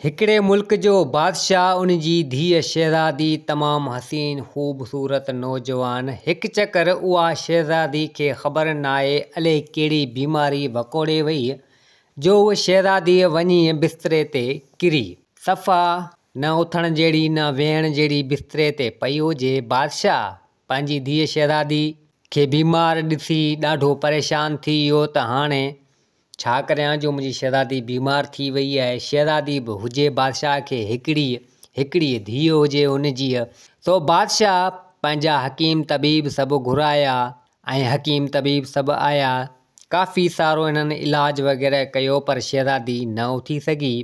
هڪڙي ملڪ جو بادشاهه ان جي ڌيء شهزادي تمام حسين خوب صورت نوجوان هڪ چڪر اها شهزادي کي خبر ناهي الئي ڪهڙي بيماري وڪوڙي وئي جو اهو شهزادي وڃي بستري تي ڪري صفا نه اٿڻ جهڙي نه ويهڻ جهڙي بستري تي پئي هجي بادشاهه پنهنجي ڌيء شهزادي کي بيمار ڏسي ڏاڍو پريشان ٿي ويو ته هاڻي ڇا ڪريان جو منهنجي شهزادي بيمار ٿي ويئي آهي. شهزادي به هجي بادشاهه کي هڪڙيء هڪڙيء ڌيء هجي ان جيء. سو بادشاهه پنهنجا حڪيم طبيب سڀ گهرايا ۽ حڪيم طبيب سڀ آيا. ڪافي سارو هنن علاج وغيره ڪيو پر شهزادي نه اٿي سگهي.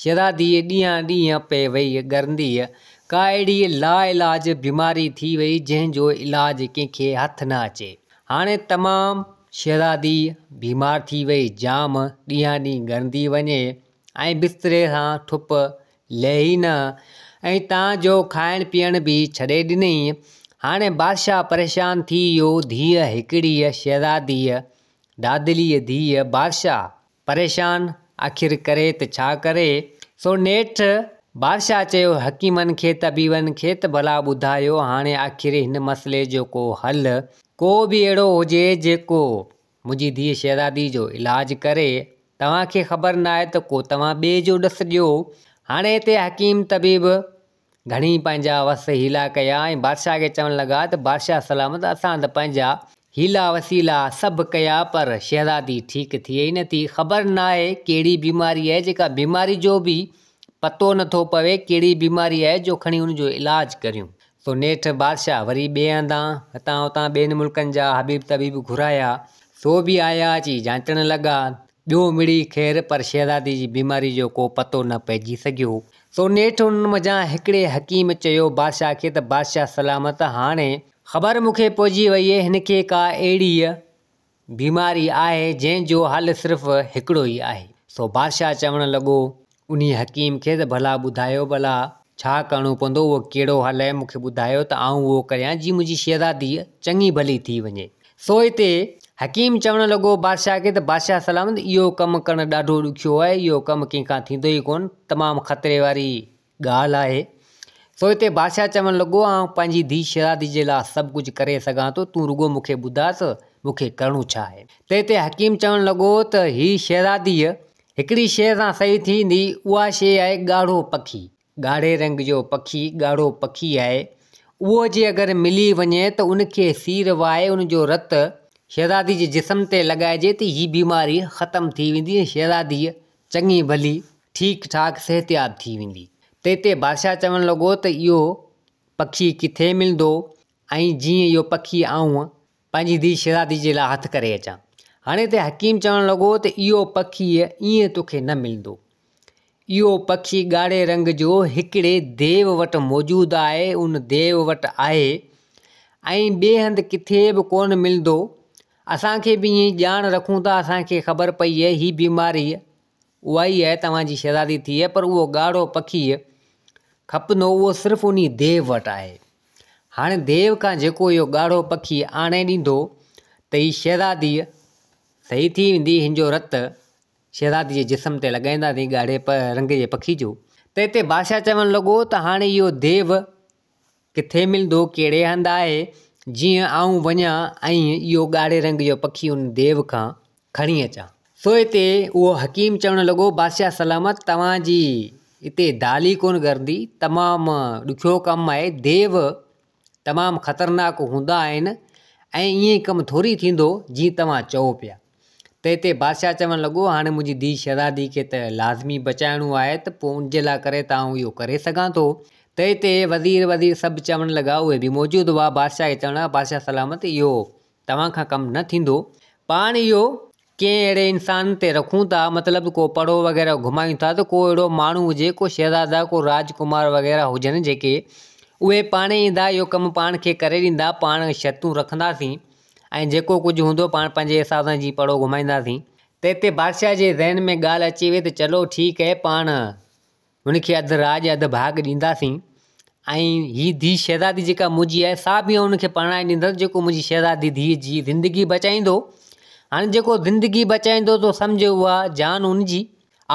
شھزاديء ڏينھان ڏينھن پئي وئي ڳرنديء. ڪا اھڙي لاعلاج بيماري ٿي وئي جنھن جو علاج ڪنھن کي ھٿ نه اچي. ھاڻي تمام شھزادي بيمار ٿي وئي جام ڏينھان ڏينھن ڳرندي وڃي ۽ بستري سان ٺپ لھي نه ۽ تان جو کائڻ پيئڻ به ڇڏي ڏنئي. ھاڻي بادشاھه پريشان ٿي ويو ڌيء ھڪڙيء شھزاديء دادليء ڌيء بادشاھه پريشان آخر ڪري ته ڇا ڪري؟ سو نيٺ بادشاهه چيو حڪيمن کي طبيبن کي ته ڀلا ٻڌايو هاڻي آخر هن مسئلي جو ڪو حل ڪو به اهڙو هجي جيڪو منهنجي ڌيء شهزادي جو علاج ڪري توهان کي خبر ناهي ته ڪو توهان ٻئي جو ڏس ڏيو هاڻي هتي حڪيم طبيب گهڻي پنهنجا وس حيلا ڪيا ۽ بادشاهه کي چوڻ لڳا ته بادشاهه سلامت اسان ته پنهنجا حيلا وسيلا سڀ ڪيا پر شهزادي ٺيڪ ٿئي ئي نٿي خبر ناهي ڪهڙي بيماري آهي جيڪا بيماري جو به پتو نٿو پوي ڪهڙي بيماري آهي جو کڻي ان جو علاج ڪريون سو نيٺ بادشاهه وري ٻئي هنڌان هتان هتان ٻين ملڪن جا حبيب طبيب گهرايا سو به آيا اچي جانچڻ لڳا ٻيو مڙئي خير پر شهزادي جي بيماري جو ڪو پتو نه پئجي سگهيو. سو نيٺ انهن منجهان هڪڙي حڪيم چيو بادشاهه کي ته بادشاهه سلامت هاڻي. خبر مون کي پئجي وئي هن کي ڪا اهڙيء بيماري آهي جنهن جو حل صرف هڪڙو ئي آهي. سو بادشاهه چوڻ لڳو انهيء حڪيم کي ته ڀلا ٻڌايو ڀلا ڇا ڪرڻو پوندو، اهو ڪهڙو حل اهي مون کي ٻڌايو ته آئون اهو ڪريان جي منهنجي شهزاديء چڱي ڀلي ٿي وڃي. سو هتي حڪيم چوڻ لڳو بادشاهه کي ته بادشاهه سلامت اهو ڪم ڪرڻ ڏاڍو ڏکيو آهي، اهو ڪم ڪنهن کان ٿيندو ئي ڪونه، تمام خطري واري ڳالهه آهي. سو هتي بادشاهه چوڻ لڳو آئون پنهنجي ڌيء شهزاديء جي لاء سڀ ڪجهه ڪري سگهان ٿو، تون رڳو مون کي ٻڌاء ته مون کي ڪرڻو ڇا آهي. ته هتي حڪيم چوڻ لڳو ته هيء شهزاديء هڪڙي شيء سان صحيح ٿيندي، اها شيء آهي ڳاڙهو پکي. ڳاڙهي رنگ جو پکي، ڳاڙهو پکي آهي. اهو جي اگر ملي وڃي ته ان کي سير وهائي ان جو رت شهزادي جي جسم تي لڳائجي ته هي بيماري ختم ٿي ويندي ۽ شهزاديء چڱي ڀلي، ٺيڪ ٺاڪ صحتياب ٿي ويندي. تنهن تي بادشاهه چوڻ لڳو ته اهو پکي ڪٿي ملندو ۽ جيئن اهو پکي آئون پنهنجي ڌيء شهزادي جي لاء هٿ ڪري اچان. هڻي ته حڪيم چوڻ لڳو ته اهو پکي ائين توکي نه ملندو. اهو پکي ڳاڙهي رنگ جو هڪڙي ديو وٽ موجود آهي، ان ديو وٽ آهي ۽ ٻئي هنڌ ڪٿي به ڪونه ملندو. اسان کي به ائين ڄاڻ رکون ته اسان کي خبر پئي هي بيماريء اها ئي آهي توهان جي شهزادي ٿيء پر اهو ڳاڙهو پکيء کپندو اهو صرف انهي ديو وٽ آهي. هاڻي ديو کان جيڪو اهو ڳاڙهو پکي آڻي ڏيندو ته هي شهزاديء صحيح ٿي ويندي هن جو رت شهزادي جي جسم تي لڳائينداسين ڳاڙهي رنگ جي پکي جو. ته اتي بادشاهه چوڻ لڳو ته هاڻي اهو ديو ڪٿي ملندو ڪهڙي هنڌ آهي جيئن آئون وڃان ۽ اهو ڳاڙهي رنگ جو پکي ان ديو کان کڻي اچان. سو اتي اهو حڪيم چوڻ لڳو، بادشاهه سلامت توهان جي اتي دالي ڪونه گردي، تمام ڏکيو ڪم آهي، ديو تمام خطرناڪ هوندا آهن ۽ ائين ڪم ٿوري ٿيندو جيئن توهان چئو پيا. ته اتي بادشاهه چوڻ لڳو، هاڻي منهنجي ڌيء شهزادي کي ته لازمي بچائڻو آهي ته پوء ان جي لاء ڪري ته آئون اهو ڪري سگهان ٿو. ته اتي وزير وزير سڀ چوڻ لڳا، اهي به موجود هئا، بادشاهه کي چوڻ لڳا، بادشاهه سلامت اهو توهان کان ڪم نه ٿيندو. پاڻ اهو ڪنهن اهڙي انسان تي رکون ٿا، مطلب ڪو پڙهو وغيره گهمايون ٿا ته ڪو اهڙو ماڻهو هجي، ڪو شهزادا، ڪو راجڪمار وغيره هجن جيڪي اهي پاڻهي ايندا، اهو ڪم پاڻ کي ڪري ڏيندا، پاڻ شرطون رکنداسين ۽ جيڪو ڪجهه هوندو پاڻ پنهنجي حساب سان جي پڙهو گهمائينداسين. تنهن تي بادشاهه جي ذهن ۾ ڳالهه اچي وئي ته چلو ٺيڪ اهي پاڻ هن کي اڌ راڄ اڌ ڀاڳ ڏينداسين ۽ هي ڌيء شهزادي جيڪا منهنجي آهي سا به آئون ان کي پرڻائي ڏيندس جيڪو منهنجي شهزادي ڌيء جي زندگي بچائيندو هاڻي جيڪو زندگي بچائيندو تو سمجهه اها جان ان جي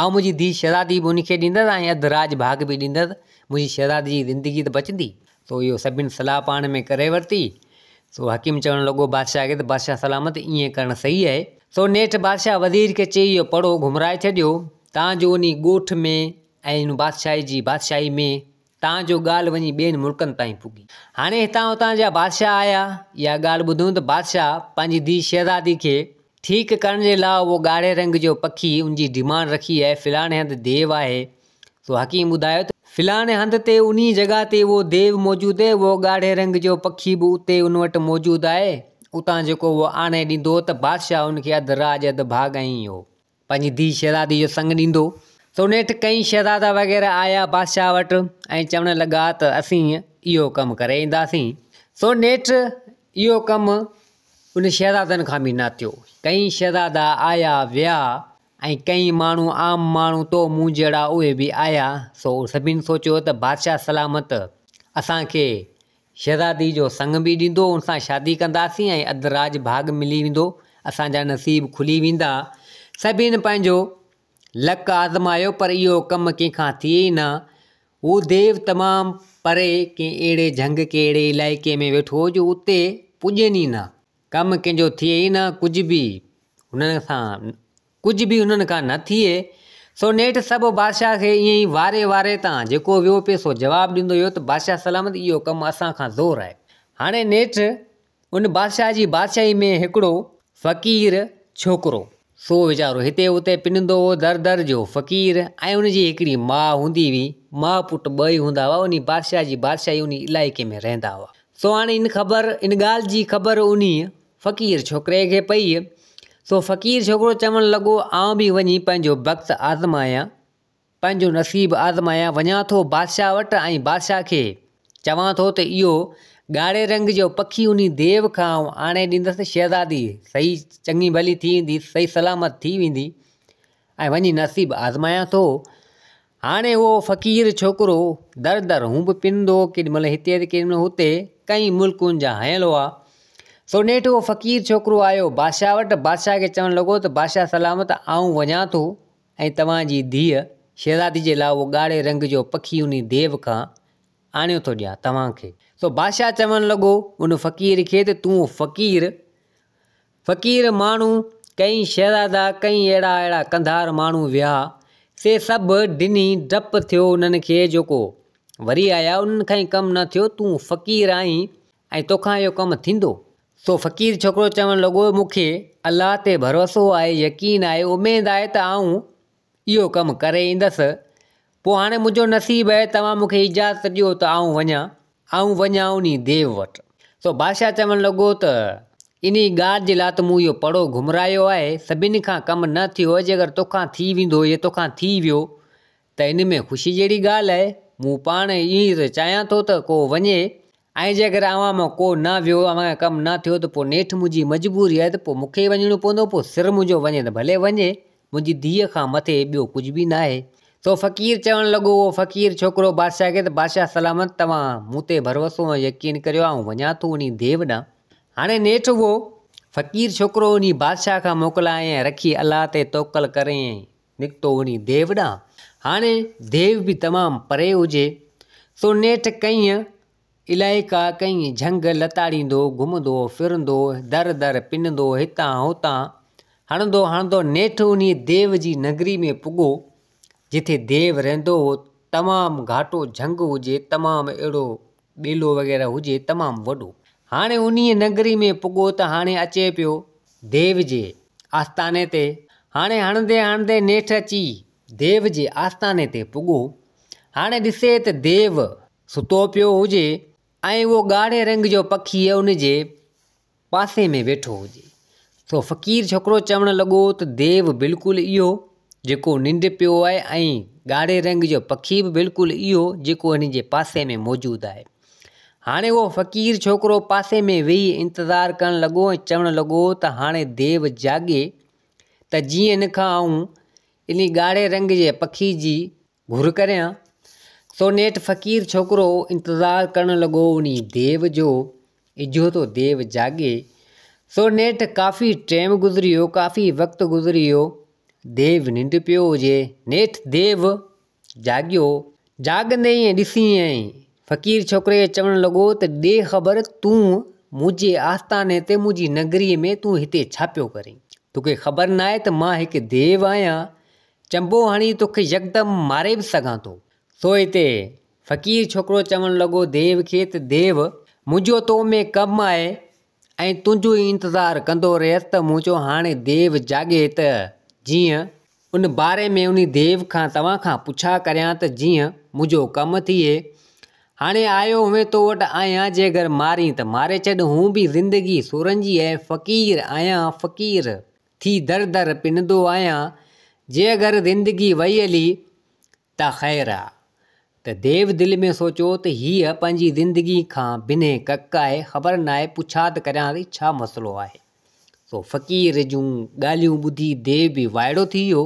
آئون منهنجي ڌيء شهزادي به ان کي ڏيندس ۽ اڌ راڄ ڀاڳ به ڏيندس منهنجي شهزادي جي زندگي ته بچندي تو اهو سڀني صلاح پاڻ ۾ ڪري ورتي سو حڪيم چوڻ لڳو بادشاهه کي ته بادشاهه سلامت ائين ڪرڻ صحيح آهي سو نيٺ بادشاهه وزير کي چئي اهو پڙو گهمرائي ڇڏيو تان جو انهيء ڳوٺ ۾ ۽ ان بادشاهي جي بادشاهي ۾ تان جو ڳالهه وڃي ٻين ملڪن تائين پڳي. هاڻي هتان هتان جا بادشاهه آيا اها ڳالهه ٻڌون ته بادشاهه پنهنجي ڌيء شهزادي کي ٺيڪ ڪرڻ جي لاء اهو ڳاڙهي رنگ جو پکي ان جي ڊيمانڊ رکي اهي فلاڻي هنڌ ديو آهي سو حڪيم ٻڌايو ته فلاڻي هنڌ تي انهيء جڳهه تي اهو ديو موجود اهي اهو ڳاڙهي رنگ جو پکي به اتي ان وٽ موجود آهي اتان جيڪو اهو آڻي ڏيندو ته بادشاهه ان کي اڌ راڄ اڌ ڀاڳ ائين ئي اهو. پنهنجي ڌيء شهزادي جو سڱ ڏيندو. سو نيٺ ڪئين شهزادا وغيره آيا بادشاهه وٽ ۽ چوڻ لڳا ته اسين اهو ڪم ڪري اينداسين. سو نيٺ اهو ڪم انهن شهزادن کان به نه ٿيو. ڪئين شهزادا آيا ويا ۽ ڪئين ماڻهو عام ماڻهو تو مون جهڙا اهي به آيا سو سڀني سوچيو ته بادشاهه سلامت اسان کي شهزادي جو سڱ به ڏيندو، ان سان شادي ڪنداسين ۽ اڌ راڄ ڀاڳ ملي ويندو، اسان جا نصيب کلي ويندا. سڀني پنهنجو لڪ آزمايو پر اهو ڪم ڪنهن کان ٿئي ئي نه. هو ديو تمام پري ڪنهن اهڙي جهنگ ڪنهن اهڙي علائقي ۾ ويٺو هو جو اتي پڄين ئي نه. ڪم ڪنهن جو ٿئي ئي نه ڪجهه به هن سان. ڪجهه به انهن کان نه ٿئي. سو نيٺ سڀ بادشاهه کي ائين ئي واري واري تان جيڪو ويو پئي سو جواب ڏيندو ويو ته بادشاهه سلامت اهو ڪم اسان کان زور آهي. هاڻي نيٺ ان بادشاهه جي بادشاهي ۾ هڪڙو فقير ڇوڪرو سو ويچارو هتي اتي پنندو هو در در جو فقير ۽ ان جي هڪڙي ماء هوندي هئي ماء پٽ ٻه ئي هوندا هئا انهي بادشاهه جي بادشاهي انهي علائقي ۾ رهندا هئا سو هاڻي ان خبر ان ڳالهه جي خبر انهي فقير ڇوڪري کي پئي، سو فقير ڇوڪرو چوڻ لڳو، آئون به وڃي پنهنجو بخت آزمايان، پنهنجو نصيب آزمايان، وڃان ٿو بادشاهه وٽ ۽ بادشاهه کي چوان ٿو ته اهو ڳاڙهي رنگ جو پکي انهي ديو کان آئون آڻي ڏيندس، شهزادي صحيح چڱي ڀلي ٿي ويندي، صحيح سلامت ٿي ويندي. ۽ وڃي نصيب آزمايان ٿو. هاڻي اهو فقير ڇوڪرو در در هون به پنندو هو ڪيڏي مهل هتي ته ڪيڏي مهل هتي ڪئين ملڪن جا هنيل هئا. سو نيٺ اهو فقير ڇوڪرو آيو بادشاهه وٽ، بادشاهه کي چوڻ لڳو ته بادشاهه سلامت آئون وڃان ٿو ۽ توهان جي ڌيء شهزادي جي لاء اهو ڳاڙهي رنگ جو پکي انهي ديو کان آڻيو ٿو ڏيان توهان کي. سو بادشاهه چوڻ لڳو ان فقير کي ته تون فقير فقير ماڻهو ڪئين شهزادا ڪئين اهڙا اهڙا قنڌار ماڻهو ويا سي سڀ ڊني ڊپ ٿيو انهن کي جو ڪو وري آيا انهن کان ئي ڪم نه ٿيو تون فقير آهين ۽ توکان اهو ڪم ٿيندو. سو فقير ڇوڪرو چوڻ لڳو مون کي الله تي ڀروسو آهي يقين آهي اميد آهي ته آئون اهو ڪم ڪري ايندس. پوء هاڻي منهنجو نصيب اهي توهان مون کي اجازت ڏيو ته آئون وڃان. آئون وڃان انهي ديو وٽ. سو بادشاهه چوڻ لڳو ته انهي ڳالهه جي لاء ته مون اهو پڙو گهمرايو آهي، سڀني کان ڪم نه ٿيو اهي، جي اگر تو کان ٿي ويندو يا تو کان ٿي ويو ته ان ۾ خوشي جهڙي ڳالهه اهي. مون پاڻ ايئن ئي ته چاهيان ٿو ته ڪو وڃي ۽ جيڪر اوهان مان ڪو نه ويو، اوهان کان ڪم نه ٿيو ته پوء نيٺ منهنجي مجبوري آهي ته پوء مون کي ئي وڃڻو پوندو، پوء سر منهنجو وڃي ته ڀلي وڃي، منهنجي ڌيء کان مٿي ٻيو ڪجهه به ناهي. سو فقير چوڻ لڳو، اهو فقير ڇوڪرو بادشاهه کي ته بادشاهه سلامت توهان مون تي ڀروسو ۽ يقين ڪريو، آئون وڃان ٿو انهي ديو ڏانهن. هاڻي نيٺ اهو فقير ڇوڪرو انهي بادشاهه کان موڪلائين ۽ رکي الله تي توڪل ڪريائين نڪتو وڃي ديو ڏانهن. هاڻي ديو به تمام پري هجي، سو نيٺ ڪئين علائقا، ڪئين جهنگ لتاڙيندو، گهمندو ڦرندو، در در پنندو، هتان هتان هڻندو هڻندو نيٺ انهيء ديو جي ننگري ۾ پڳو، جتي ديو رهندو هو، تمام گهاٽو جهنگ هجي، تمام اهڙو ٻيلو وغيره هجي تمام وڏو. هاڻي انهيء نگري ۾ پڳو ته هاڻي اچي پيو ديو جي آستاني تي. هاڻي هڻندي هڻندي نيٺ اچي ديو جي آستاني تي پڳو. هاڻي ڏسي ته ديو ستو پيو هجي ۽ اهو ڳاڙهي رنگ جو پکي ان جي پاسي ۾ ويٺو هجي. سو فقير ڇوڪرو چوڻ لڳو ته ديو بلڪل اهو جيڪو ننڊ پيو آهي ۽ ڳاڙهي رنگ جو پکي به بلڪل اهو جيڪو هن جي پاسي ۾ موجود آهي. هاڻي اهو فقير ڇوڪرو پاسي ۾ ويهي انتظار ڪرڻ لڳو ۽ چوڻ لڳو ته هاڻي ديو جاڳي ته جيئن هن کان آئون انهي ڳاڙهي رنگ جي پکي جي گهر ڪريان. سو نيٺ فقير ڇوڪرو انتظار ڪرڻ لڳو انهي ديو جو، اجهو ٿو ديو جاڳي. سو نيٺ ڪافي ٽيم گذري ويو، ڪافي وقت گذري ويو، ديو ننڊ پيو هجي. نيٺ ديو جاڳيو، جاڳندي ائين ڏسي ائين فقير ڇوڪري کي چوڻ لڳو ته ڏي خبر تون منهنجي آستاني تي منهنجي نگري ۾ تون هتي ڇا پيو ڪرين؟ توکي خبر ناهي ته مان هڪ ديو آهيان، چنبو هڻي توکي يڪدم ماري به سگهان ٿو. سو هتي فقير ڇوڪرو چوڻ لڳو ديو کي ته ديو! منهنجو تو ۾ ڪم آهي ۽ تنهنجو ئي انتظار ڪندو رهيس ته مون چيو هاڻي ديو جاڳي ته جيئن ان باري ۾ انهي ديو کان توهان کان پڇا ڪريان ته جيئن منهنجو ڪم ٿئي. هاڻي آيو هئين تو وٽ آهيان جيگر مارين ته ماري ڇڏ هون به زندگي سورنجي ۽ فقير آهيان فقير! ٿي در در پنندو آهيان، جي اگر زندگي وئي هلي ته خير آ. ته ديو دل ۾ سوچيو ته هيء پنهنجي زندگي کان بنهه ڪڪ آهي، خبر ناهي پڇا ته ڪريانس هي ڇا مسئلو آهي. سو فقير جون ڳالهيون ٻڌي ديو به وائڙو ٿي ويو.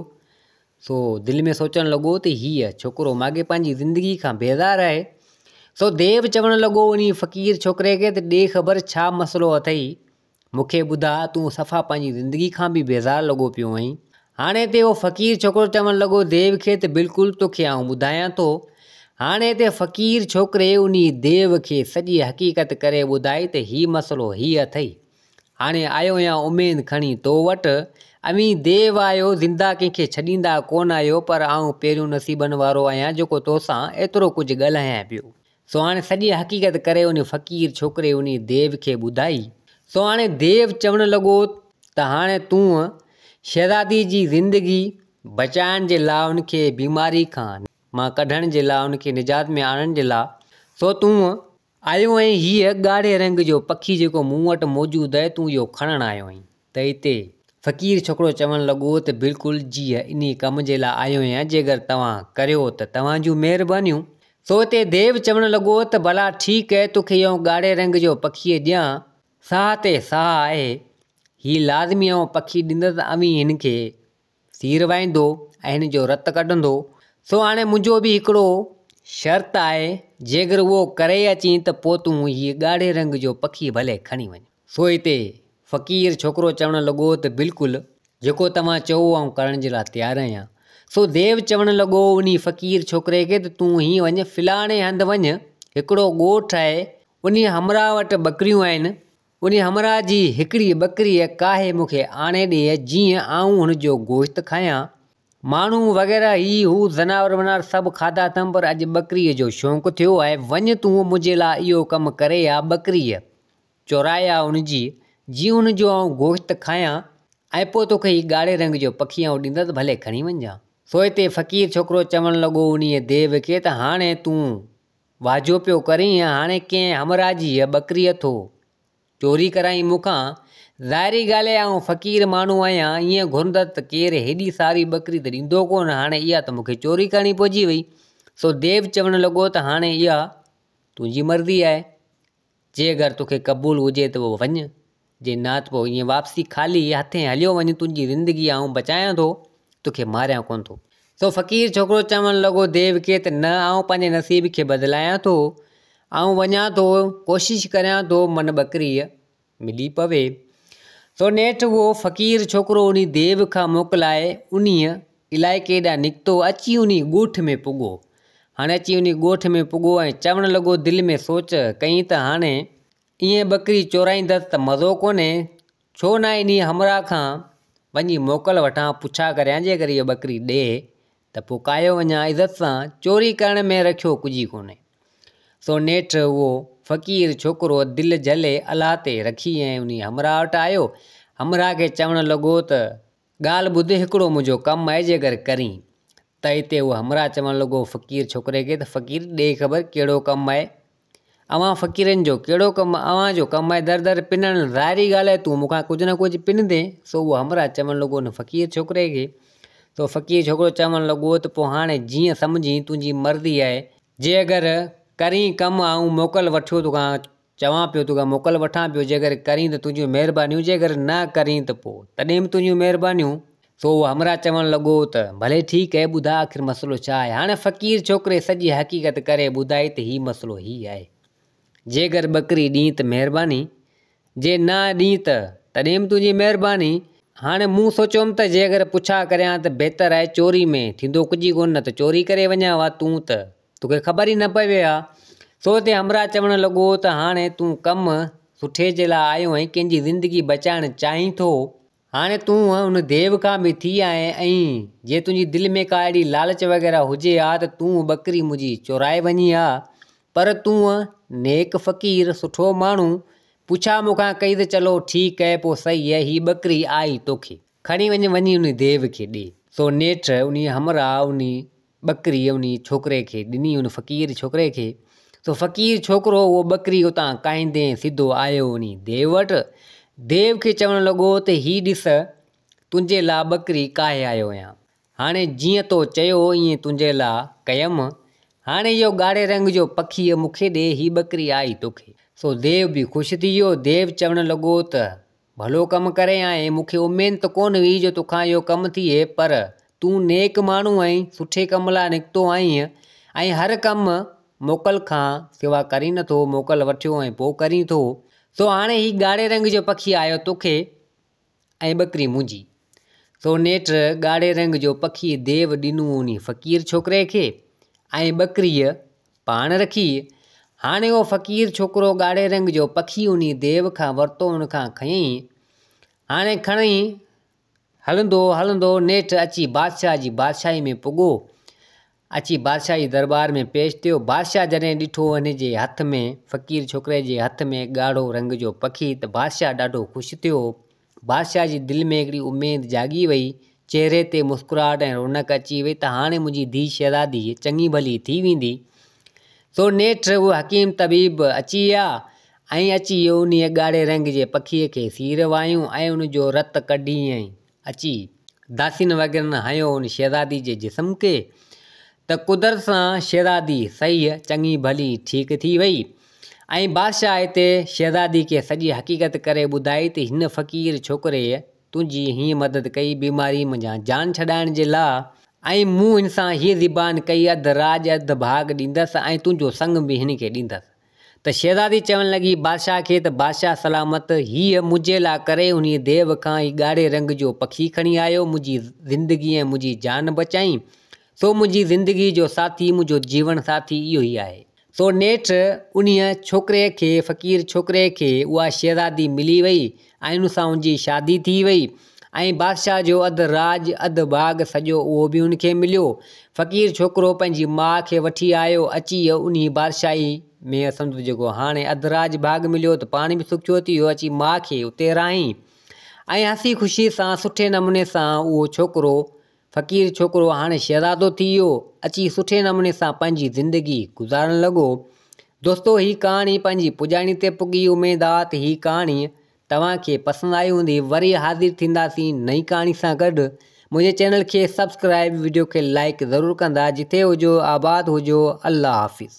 سو دل ۾ سوچڻ لڳو ته هيء ڇوڪرو ماڳهين پنهنجي زندگي کان بيزار آهي. سو ديو چوڻ لڳو انهي فقير ڇوڪري کي ته ڏي خبر ڇا مسئلو اٿئي مون کي ٻڌاء تون صفا پنهنجي زندگي کان به بيزار لڳو پيو آهين هاڻي هتي اهو فقير ڇوڪرو چوڻ لڳو ديو کي ته بلڪل توکي آئون ٻڌايان ٿو هاڻي هتي فقير ڇوڪري انهي ديو کي سڄي حقيقت ڪري ٻڌائي ته هي مسئلو هي اٿئي هاڻي آيو آهيان اميد کڻي تو وٽ اوهين ديو آهيو زنده ڪنهن کي ڇڏيندا ڪونه آهيو پر آئون پهريون نصيبن وارو آهيان جيڪو توسان ايترو ڪجهه ڳالهايان پيو سو هاڻي سڄي حقيقت ڪري انهي فقير ڇوڪري انهي ديو کي ٻڌائي. سو هاڻي ديو چوڻ لڳو ته هاڻي تون شهزادي جي زندگي بچائڻ جي لاء ان کي بيماري کان مان ڪڍڻ جي لاء ان کي نجات ۾ آڻڻ جي لاء سو تون آيو آهين هيء ڳاڙهي رنگ جو پکي جيڪو مون وٽ موجود آهي تون اهو کڻڻ آيو آهين. ته اتي. فقير ڇوڪرو چوڻ لڳو ته بلڪل جيء انهي ڪم جي لاء آيو آهيان جيگر توهان ڪريو ته توهان جون مهربانيون. سو اتي ديو چوڻ لڳو ته ڀلا ٺيڪ اهي توکي اهو ڳاڙهي رنگ جو پکيء ڏيان ساهه تي ساهه آهي هي لازمي اهو پکي ڏيندس اوهين هن کي سير وائيندو ۽ هن جو رت ڪڍندو، سو هاڻي منهنجو به هڪڙو شرط آهي، جيڪر اهو ڪري اچين ته پوء تون هيء ڳاڙهي رنگ جو پکي ڀلي کڻي وڃ. سو هتي فقير ڇوڪرو چوڻ لڳو ته بلڪل، جيڪو توهان چئو آئون ڪرڻ جي لاء تيار آهيان. سو ديو چوڻ لڳو انهي فقير ڇوڪري کي ته تون هينئن وڃ، فلاڻي هنڌ وڃ، هڪڙو ڳوٺ آهي، انهي همراهه وٽ ٻڪريون آهن، انهيء همراهه جي هڪڙيء ٻڪريء ڪاهي مون کي آڻي ڏي، جيئن آئون هن جو گوشت کايان. ماڻهو وغيره هي هو زناور وناور سڀ کاڌا اٿم، پر اڄ ٻڪريء جو شونق ٿيو آهي. وڃ تون منهنجي لاء اهو ڪم ڪري آ، ٻڪريء چورائي آ هن جي، جيئن هن جو آئون گوشت کايان، ۽ پوء توکي هي ڳاڙهي رنگ جو پکي آئون ڏيندس، ڀلي کڻي وڃجان. سوئي تي فقير ڇوڪرو چوڻ لڳو انهيء ديو کي ته هاڻي تون واجهو پيو ڪرين هاڻي ڪنهن همراهه جي هيء ٻڪري اٿو چوري ڪرائين مون کان؟ ظاهري ڳالهه آهي آئون فقير ماڻهو آهيان، ائين گهرندس ته ڪير هيڏي ساري ٻڪري ته ڏيندو ڪونه، هاڻي اها ته مون کي چوري ڪرڻي پئجي وئي. سو ديو چوڻ لڳو ته هاڻي اها تنهنجي مرضي آهي. جي اگر توکي قبول هجي ته پوء وڃ، جي نه ته پوء ائين واپسي خالي هٿين هليو وڃ، تنهنجي زندگي آئون بچايان ٿو، توکي ماريان ڪونه ٿو. سو فقير ڇوڪرو چوڻ لڳو ديو کي ته نه آئون پنهنجي نصيب کي بدلايان ٿو، آئون وڃان ٿو، ڪوشش ڪريان ٿو من ٻڪريء ملي پوي. سو نيٺ اهو فقير ڇوڪرو انهي ديو کان موڪلائي انهيء الائي ڪيڏانهن نڪتو اچي انهي ڳوٺ ۾ پڳو. هاڻي اچي انهي ڳوٺ ۾ پڳو ۽ چوڻ لڳو دل ۾ سوچ ڪئين ته هاڻي ايئن ٻڪري چورائيندس ته مزو ڪونهي، ڇو نه انهي همراهه کان وڃي موڪل وٺان پڇا ڪريان جيڪر اهي ٻڪري ڏئي ته پوء ڪاهيو وڃان عزت سان چوري ڪرڻ ۾ رکيو ڪجهي ڪونهي. سو نيٺ اهو فقير ڇوڪرو دل جهلي الله تي رکي ۽ انهي همراهه وٽ آيو همراهه کي چوڻ لڳو ته ڳالهه ٻڌ هڪڙو منهنجو ڪم آهي جي اگر ڪرين ته اتي هو همراهه چوڻ لڳو فقير ڇوڪري کي ته فقير ڏي خبر ڪهڙو ڪم آهي اوهان فقيرن جو ڪهڙو ڪم اوهان جو ڪم آهي در در پنڻ ظاهري ڳالهه آهي تون مون کان ڪجهه نه ڪجهه پنندين سو اهو همراهه چوڻ لڳو ان فقير ڇوڪري کي سو فقير ڇوڪرو چوڻ لڳو ته پوء هاڻي جيئن سمجهين تنهنجي مرضي آهي جي اگر ڪرين ڪم آئون موڪل وٺيو تو کان چوان پيو توکان موڪل وٺان پيو جيڪر ڪرين ته تنهنجون مهربانيون جيڪر نه ڪرين ته پوء تڏهن به تنهنجون مهربانيون. سو اهو همراهه چوڻ لڳو ته ڀلي ٺيڪ اهي ٻڌاء آخر مسئلو ڇا آهي هاڻي فقير ڇوڪري سڄي حقيقت ڪري ٻڌائي ته هي مسئلو هي آهي جيڪر ٻڪري ڏين ته مهرباني جي نه ڏين ته تڏهن به تنهنجي مهرباني هاڻي مون سوچيوم ته جيڪر پڇا ڪريان ته بهتر آهي چوري ۾ ٿيندو ڪجهه ئي ڪونه نه ته چوري ڪري وڃان وا تون ته توکي خبر ئي نه پوي ها. سو تي همراهه چوڻ لڳو ته هاڻي تون ڪم سٺي جي لاء آيو آهين، ڪنهن جي زندگي بچائڻ چاهين ٿو. هاڻي تون ان ديو کان به ٿي آئين ۽ جي تنهنجي دل ۾ ڪا اهڙي لالچ وغيره هجي ها ته تون ٻڪري منهنجي چورائي وڃين ها. پر تون نيڪ فقير، سٺو ماڻهو، پڇا مون کان ڪئي ته چلو ٺيڪ اهي پوء سهي اهي، هي ٻڪري آئي توکي. کڻي وڃ، وڃي ان ديو کي ڏي. سو نيٺ انهيء همراهه انهي ٻڪري ان ڇوڪري کي ڏني، ان فقير ڇوڪري کي، سو فقير ڇوڪرو اهو ٻڪري اتان ڪاهيندي سڌو آيو ان ديو وٽ، ديو کي چوڻ لڳو ته هي ڏس تنهنجي لا ٻڪري ڪاهي آيو آهيان، هاڻي جيئن تو چيو ايئن تنهنجي لا ڪيم، هاڻي اهو ڳاڙهي رنگ جو پکيء مون کي ڏي، هي ٻڪري آئي توکي. سو ديو به خوش ٿي ويو، ديو چوڻ لڳو ته ڀلو ڪم ڪري آئين، مون کي اميد ته ڪونه هئي جو توکان اهو ڪم ٿئي، پر تون نيڪ ماڻهو آهين، سٺي ڪم لاء نڪتو آهين، ۽ هر ڪم موڪل کان سوا ڪرين نه ٿو، موڪل وٺيو ۽ پوء ڪرين ٿو، سو هاڻي هي ڳاڙهي رنگ جو پکي آيو توکي، ۽ ٻڪري منهنجي. سو نيٺ ڳاڙهي رنگ جو پکي ديو ڏنو انهي فقير ڇوڪري کي، ۽ ٻڪريء پاڻ رکي، هاڻي اهو فقير ڇوڪرو ڳاڙهي رنگ جو پکي انهي ديو کان ورتو ان کان کنئين، هاڻي کڻئين، هلندو هلندو نيٺ اچي بادشاهه جي بادشاهي ۾ پڳو، اچي بادشاهه جي درٻار ۾ پيش ٿيو، بادشاهه جڏهن ڏٺو هن جي هٿ ۾ فقير ڇوڪري جي هٿ ۾ ڳاڙهو رنگ جو پکي ته بادشاهه ڏاڍو خوش ٿيو، بادشاهه جي دل ۾ هڪڙي اميد جاڳي وئي، چهري تي مسڪراهٽ ۽ رونق اچي وئي ته هاڻي منهنجي ڌيء شهزادي چڱي ڀلي ٿي ويندي. سو نيٺ اهو حڪيم طبيب اچي آ ۽ اچي انهيء ڳاڙهي رنگ جي پکيء کي سير وايون ۽ ان جو رت ڪڍيائين. اچي داسين وغيرن هنيو ان شهزادي جي جسم کي ته قدرت سان شهزادي صحيح چڱي ڀلي ٺيڪ ٿي وئي. ۽ بادشاهه هتي شهزادي کي سڄي حقيقت ڪري ٻڌائي ته هن فقير ڇوڪريء تنهنجي هيئن مدد ڪئي بيماريء منجهان جان ڇڏائڻ جي لاء، ۽ مون هن سان هيء زبان ڪئي اڌ راڄ اڌ ڀاڳ ڏيندس ۽ تنهنجو سڱ به هن کي ڏيندس. ته شهزادي چوڻ لڳي بادشاهه کي ته بادشاهه سلامت هيء منهنجي لاء ڪري انهيء ديو کان هي ڳاڙهي رنگ جو پکي کڻي آيو منهنجي زندگي ۽ منهنجي جان بچائين سو منهنجي زندگيء جو ساٿي منهنجو جيوڻ ساٿي اهو ئي آهي. سو نيٺ انهيء ڇوڪريء کي، فقير ڇوڪريء کي، اها شهزادي ملي ويئي ۽ ان سان ان جي شادي ٿي ويئي ۽ بادشاهه جو اڌ راڄ، اڌ ڀاڳ سڄو اهو به ان کي مليو. فقير ڇوڪرو پنهنجي ماء کي وٺي آيو، اچي انهيء بادشاهيء ۾ سندس جيڪو هاڻي اڌ راڄ ڀاڳ مليو ته پاڻ به سکيو ٿي ويو، اچي ماء کي اتي رهائين ۽ هسي خوشيء سان سٺي نموني سان اهو ڇوڪرو فقير ڇوڪرو هاڻي شهزادو ٿي ويو اچي سٺي نموني سان پنهنجي زندگي گذارڻ لڳو. دوستو هي ڪهاڻي پنهنجي پڄاڻي تي پڳي اميد آ ته هي ڪهاڻي توهان کي پسند آئي هوندي وري حاضر ٿينداسين نئين ڪهاڻي سان گڏ منهنجي چينل کي سبسڪرائيب وڊيو کي لائيڪ ضرور ڪندا جٿي هجو آباد هجو الله حافظ.